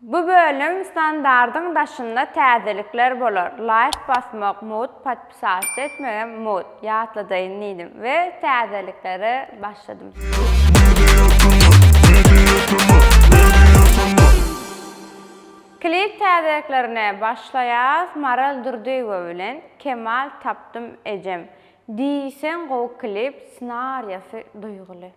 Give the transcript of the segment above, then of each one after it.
Bu bölüm standardyň daşynda täzelikler bolar, laýk basmak mut, podpisatsa etmegem mut, ýatladaýyn diýdim we täzeliklere başladym. Klip täzeliklerine başlaýas Maral Durdyýewa bilen Kemal tapdym ejem. Diýseň gowy klip, ssenariýasy duýguly.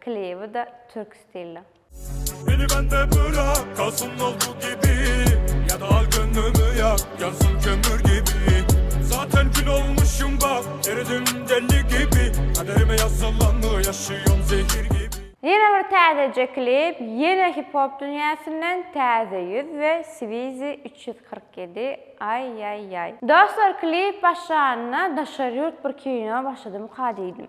Klibi da türk stilde. Meni bende bırak kalsın oldu gibi Ya da al gönlümü yak yansın kömür gibi Zaten kül olmuşum bak eridim deli gibi Kaderime yazılanı yaşıyorum zehir gibi. Ýene bir täzeje klip, ýene hip-hop dünýäsinden Täze ýüz we Swizi üç ýüz kyrk ýedi, aý-ýaý-ýaý. Dostlar klip başlanyna daşary ýurt bir kino başladymyka diýdim.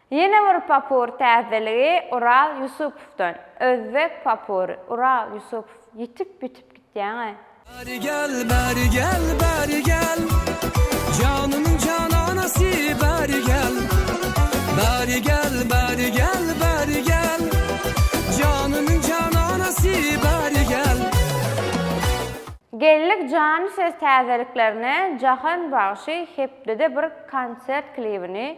Ýene bir popur täzeligi Ural Ýusupowdan. Özbek popury, Ural Ýusupow, ýitip-bitip gitýäň-ä. Bäri gel, bäri gel, bäri gel, Janymyň jananasy, bäri gel. Bäri gel, bäri gel, bäri gel, Janymyň jananasy, bäri gel. Geldik jany söz täzeliklerine Jahan bagşy hepdede bir konsert klibini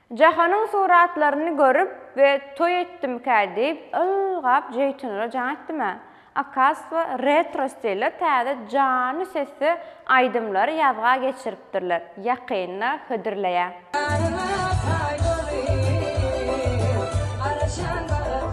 Jahanyň suratlaryny görüp we toý etdimkä diýip ylgap jeýtunlara jaň etdim-ä. Okaztwo retro stilde täze janly sesde aýdymlary ýazga geçiripdirler, ýakynda hödürleýär. Ýaryma paý bolyp, alyşan baga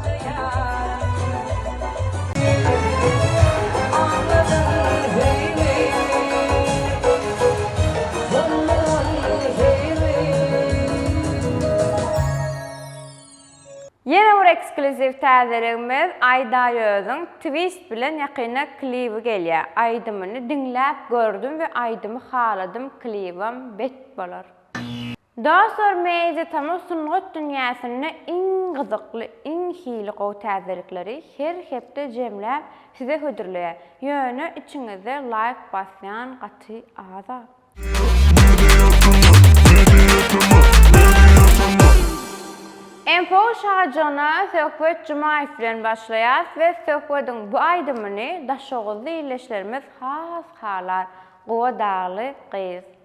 Ýene bir ekskluziw täzeligimiz Aýdaýözüň Twist bilen ýakynda klibi gelýär. Aýdymyny diňläp gördüm we aýdymy haladym klibem bet bolar. Dostlar Media Tamaz sungat dünýäsinde iň gyzykly, iň hili gowy täzelikleri her hepde jemläp size hödürleýär. Ýöne içiňizde laýk basýan gaty az-a. Info Şajana Söhbet Jumaýew bilen başlaýas we Söhbediň bu aýdymyny daşoguzly ildeşlerimiz has halar, gowa dagly gyz.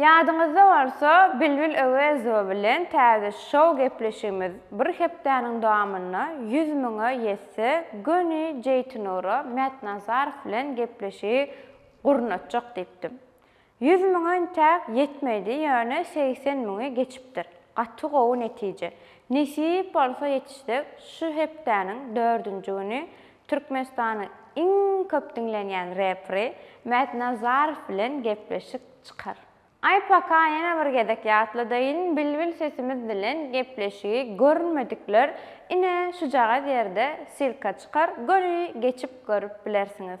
Ýadyňyzda bolsa, Bilbil Öwezowa bilen täze şou gepleşigimiz bir hepdäniň dowamynda ýüz müňe ýetse, göni Jeýtynura Mätnazarow bilen gepleşigi gurnatjak diýipdim. Ýüz müňe intäk ýetmedi, ýöne segsen müňi geçipdir. Gaty gowy netije. Nesip bolsa ýetişsek, şu hepdäniň dördünji güni Türkmenistanyň iň köp diňlenýän repri Mätnazarow bilen gepleşik çykar. Aý paka ýene bir gezek ýatladaýyn Bilbil sesimiz bilen gepleşigi görmedikler ine şujagaz ýerde silka çykar göni geçip görüp bilersiňiz.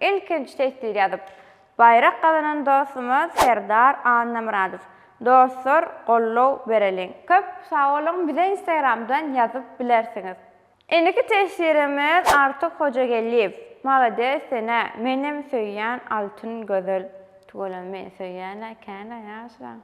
Ilkinji teswir ýazyp, baýrak gazanan dostumyz Serdar Annamyradow. Dostlar gollow bereliň. Köp sagboluň bize instagramdan ýazyp bilersiňiz. Indiki teswirimiz Artyk Hojageldiýew. Malades senä menem söýýän altyn gözel. Tüweleme meni söýýänä känä ýaşylaň.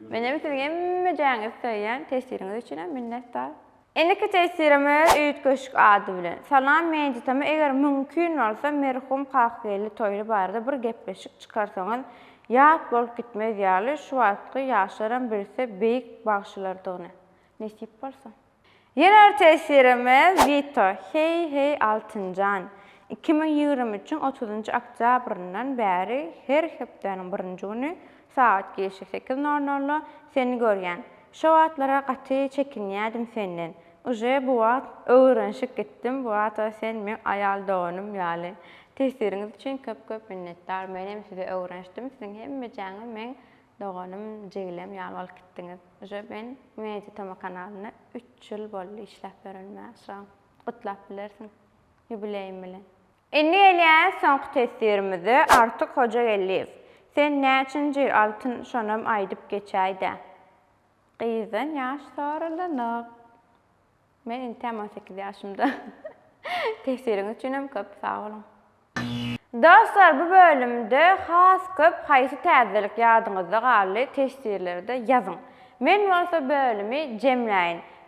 Menem siziň hemmejäňizi söýýän teswiriňiz üçinem minnetdar. Indiki tesirimiz üýtgeşik ady bilen, Salam Mejitama eger mümkin bolsa merhum Kakageldi Toýly barada bir gepleşik çykarsaňyz ýat bolup gitmez ýaly şu wagtky ýaşlaram bilse beýik bagşylardygyny. Nesip bolsa. Ýene bir tesirimiz Wito, Heý heý Altynjan! Iki müň ýigrimi üçiň otuzynjy oktýabryndan bäri her hepdäniň birinji güni Sagat girşi sekiz nol nolda seni görýän. Şo wagtlara gaty çekinýädim senden. Uje bu wagt öwrenşip gitdim bu wagta sen meň aýal doganym ýaly. Tesiriňiz üçin köp köp minnetdar menem size öwrenşdim siziň hemmejäňiz meň doganym jigilem ýaly bolup gitdiňiz. Uje men Media Toma kanalynda üç ýyl boldy işläp örenime şa gutlap bilersiň ýubileýim bilen. Indi gelýäs soňky teswirimize, Artyk Hojageldiýew, sen näçinji altyn şonam aýdyp geçäýdä. Gyzdan ýaş soralanyk. Men intäm on sekiz ýaşymda. Teswiriňiz üçinem köp sag boluň. Dostlar bu bölümde has köp haýsy täzelik ýadyňyzda galdy teswirlerde ýazyň. Men bolsa bölümi jemläýin.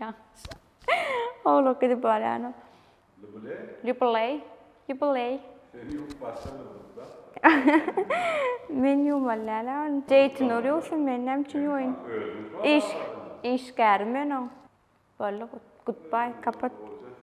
Ýalňyşlap owlak gidip barýanok. Lbuley. Lbuley. Lbuley. Seni ýumup başga bir gyzda. Men ýuwmaly däl a ony. Jeýtinur ýuwsun meni näme üçin ýuwaýyn. Iş işgäri men oň. Boldy gut gutbaý kapat.